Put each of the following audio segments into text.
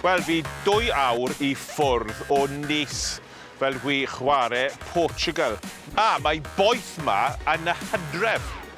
Wel, fi dwy awr i ffwrdd o Nice fel gwi chware Portugal. A, mae boeth 'ma yn y hydref!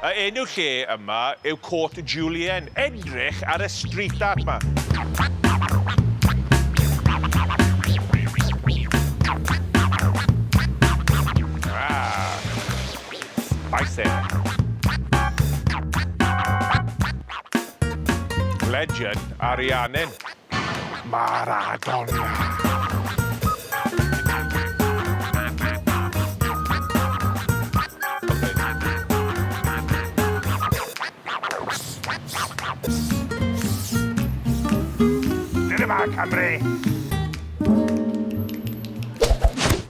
A enw lle yma yw Côt Julien. Edrych ar y street art 'ma. Ahh! Spicy. Legend Ariannin. Maradona. Dyna ma Cymru.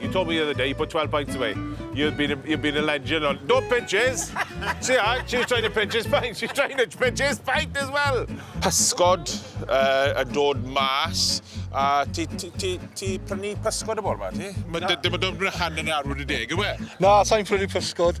You told me the other day you put 12 pints away. You've been a, you've been a legend on... No pinches! See her, she's trying to pinch his pint. She's trying to pinch his pint as well. Pysgod uh, yn dod mas. A ti, ti, ti, ti prynu pysgod y bore ma, ti? Mae dim yn dod yn hanner awr wedi deg, yw e? Na, sa'n prynu pysgod.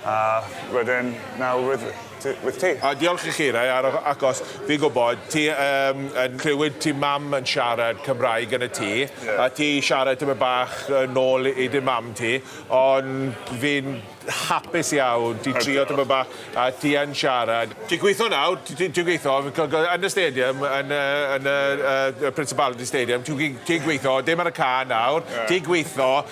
A wedyn nawr with t- with ti. A diolch i chi Ray ar y acos fi'n gwybod ti yym yn clywed ti mam yn siarad Cymraeg yn y tŷ a ti siarad tipyn bach yn ôl i dy mam ti ond fi'n hapus iawn ti'n trio tipyn bach a ti yn siarad. Ti'n gweithio nawr ti ti'n ti'n gweithio fi'n cofio yn y stadium yn y yn y yy y Principality Stadium ti'n gwe- ti'n gweithio dim ar y cân nawr ti'n gweithio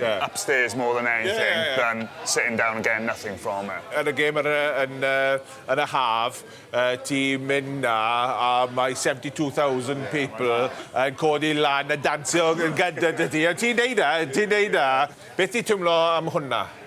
yeah. upstairs more than anything yeah, yeah, yeah. than sitting down and getting nothing from it. Yn y gêm yn, yn, yn y haf, uh, ti'n mynd na a mae 72,000 people yn codi lan a dansio yn gyda dy ti. Ti'n neud na, ti'n neud na. Beth ti'n tymlo am hwnna?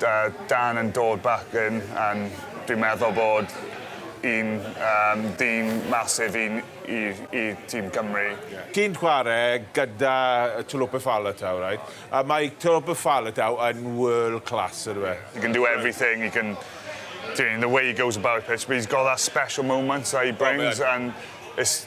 Da Dan yn dod back in and dwi'n meddwl bod un um, dyn masif i, i, i tîm Cymru. Yeah. Ti'n chwarae gyda Tolope Faletau, right? A mae Tolope Faletau yn world class, ydw e? He can do everything, he can... Doing the way he goes about the pitch, but he's got that special moments that he brings, oh, and it's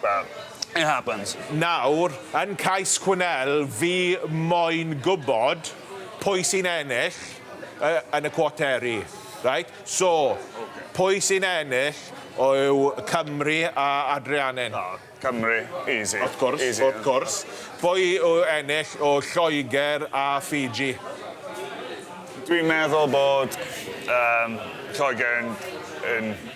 Well, it happens. Nawr, yn cais Quinnell, fi moyn gwybod pwy sy'n ennill yn y cwateri, reit? So, pwy sy'n ennill yw Cymru a Adrianin. O, Cymru, easy. Wrth gwrs, wrth gwrs. Pwy yw ennill yw Lloegr a Fiji. Dwi'n meddwl bod Lloegr yn...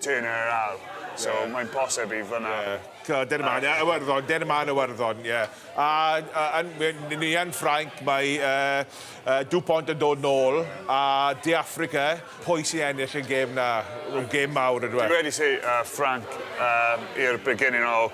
Turn her around. So mae'n posib i fyna. Yeah. Dyna ma'n uh, Iwerddon, dyna ma'n Iwerddon, ie. Yeah. A, a, a ni yn Ffrainc, mae uh, uh, Dupont yn dod nôl, a De Africa, pwy sy'n ennill y gêm na? Rwy'n gêm mawr ydw e. Dwi wedi si uh, Ffrainc um, i'r beginning o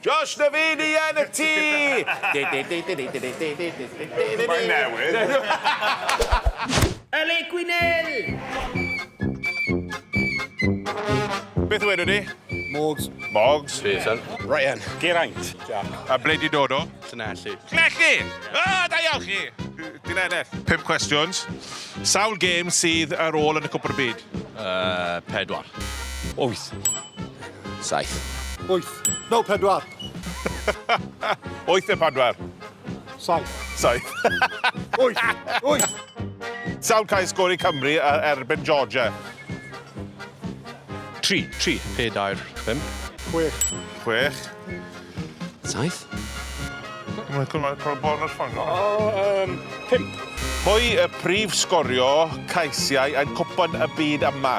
Josh Navini yn y tŷ! Mae'n newydd. Y le Gwynel! Beth wedwn ni? Morgs. Morgs. Pearson. Ryan. Geraint. Jack. A ble di dod o? Llanelli. Llanelli! O, da iawn chi! Ti'n ennill. Pum cwestiwns. Sawl gêm sydd ar ôl yn y Cwpwr y Byd? Uh, pedwar. Wyth. Saith. Wyth. No, pedwar. Wyth neu pedwar? Saith. Saith. Wyth. Wyth. Sawl cael sgori Cymru ar erbyn Georgia? Tri. Tri. Pedair. Pum. Chwech. Chwech. Saith. Mae'n cwrdd cael bon ar ffang. Um, pimp. Pwy y prif sgorio caesiau yn cwpan y byd yma?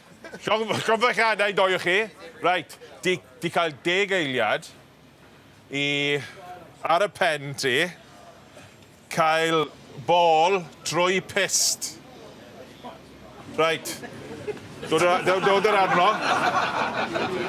Llond i doi o chi. Reit, di, di cael deg eiliad i, ar y pen ti, cael bol trwy pist. Reit. Dod, dod, dod yr arno.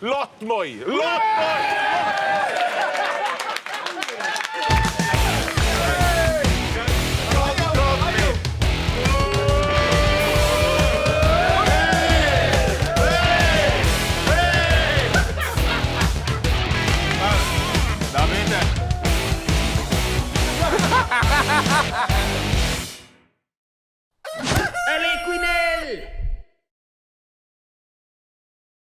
Lot mwy! Lot mwy! Gwynel!